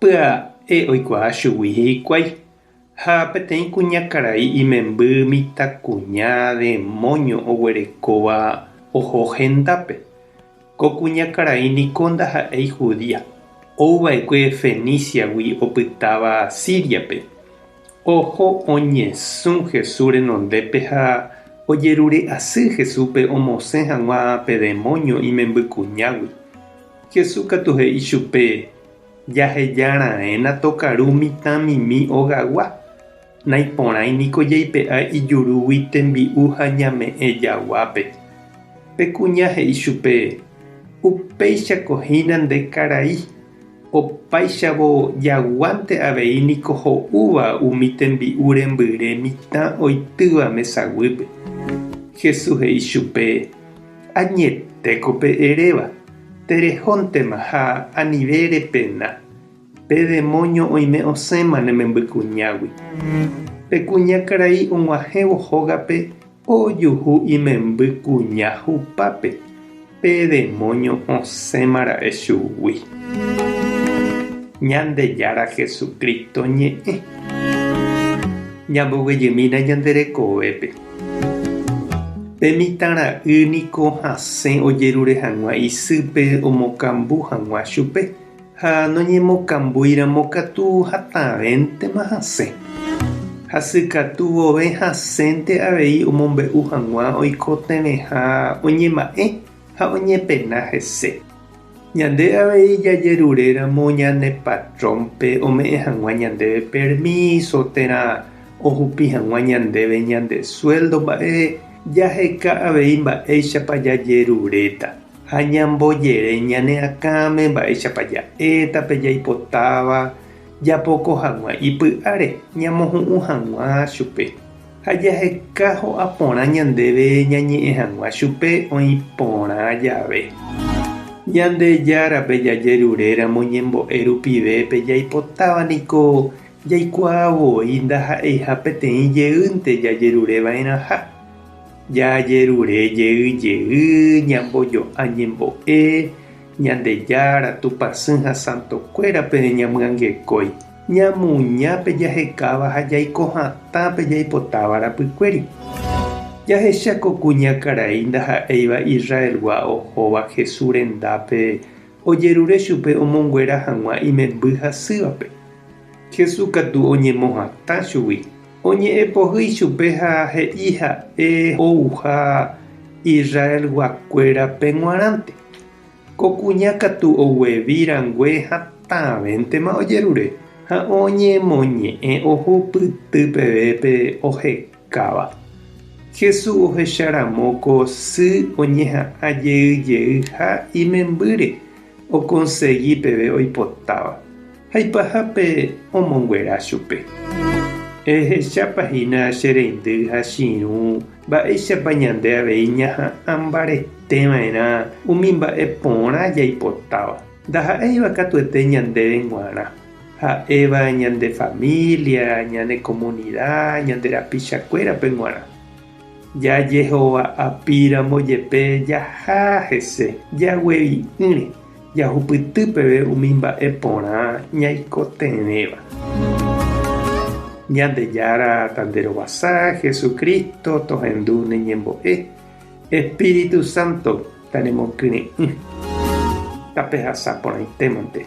Pya'e oikuaa chugui hikuái ha peteĩ kuñakarai imemby mitãkuña demóño oguerekóva oho hendápe. Ko kuñakarai niko ndaha'éi judía, ouva'ekue Feníciagui opytáva Síriape. Oho oñesũ Jesús renondépe ha ojerure asy Jesúspe omosẽ hag̃ua pe demóño imembykuñágui. Jesús katu he'i chupe, Jaheja raẽna tokaru mitãmimi ogagua, naiporãi niko jaipe'a ijurúgui tembi'u ha ñame'ẽ jaguápe. Pe kuña he'i chupe, Upéichako hína nde karai, opáichavo jaguánte avei niko ho'úva umi tembi'u rembyre mitã oitýva mesaguýpe. Jesús he'i chupe, Añetéko pe eréva, terehóntema ha anive repena, pe demóño oime osẽma ne memby kuñágui. Pe kuña karai og̃uahẽvo hógape ojuhu imemby kuña hupápe, pe demóño osẽma ra'e chugui. Ñandejára Jesucristo ñe'ẽ. Ñamboguejymína ñande rekovépe. Pe mitã ra'y niko hasẽ ojerure hag̃ua isýpe omokambu hag̃ua chupe, ha noñemokambúiramo katu hatãvéntema hasẽ. Hasykatu vove hasẽnte avei omombe'u hag̃ua oikotevẽha oñema'ẽ ha oñepena hese. Ñande avei jajeruréramo ñane patrónpe ome'ẽ hag̃ua ñandéve permíso térã ohupi hag̃ua ñandéve ñande suéldo mba'e, jaheka avei mba'éichapa jajeruréta ha ñambojere ñane akãme mba'éichapa ja'éta pe jaipotáva japoko hag̃ua ipy'áre ñamohu'ũ hag̃ua chupe. Ha jaheka ho'a porã ñandéve ñañe'ẽ hag̃ua chupe oĩ porã jave. Ñandejárape jajeruréramo ñembo'e rupive pe jaipotáva niko jaikuaa voi ndaha'eiha peteĩ jeýnte jajerureva'erãha. Jajerure jey jey ñambojo'a ñembo'e Ñandejára, Tupãsy ha santokuérape ñamyangekói. Ñamoña pe jahekáva ha jaiko hatã pe jaipotáva rapykuéri. Jahecha ko kuñakarai ndaha'éiva Israelgua ohóva Jesús rendápe ojerure chupe omonguera hag̃ua imemby hasývape. Jesús katu oñemohatã chugui, oñe'ẽpohy ichupe ha he'i ha'e ouha Israelguakuérape g̃uarãnte. Ko kuña katu oguevi rangue hatãvéntema ojerure ha oñemoñe'ẽ oho pyty peve pe ohekáva. Jesús ohecha ramo ko sy oñeha'ã jey jey ha imembýre okonsegi peve oipotáva. ha ipahápe omonguera chupe. Ehechápa hína che reindy ha chiirũ mba'éichapa ñande avei ñaha'ã mbarete va'erã umi mba'e porã jaipotáva. Ndaha'éiva katuete ñandéve g̃uarã, ha'éva ñande família, ñane komunida, ñande rapichakuérape g̃uarã. Jajehova'apíramo jepe jaha hese jaguevi'ỹre jahupyty peve umi mba'e porã ñaikotevẽva. Ñandejára Tanderovasa Jesucristo tohendu ne ñembo'e, Espíritu Santo taremokyre'ỹ. Tapehasa porãitémante.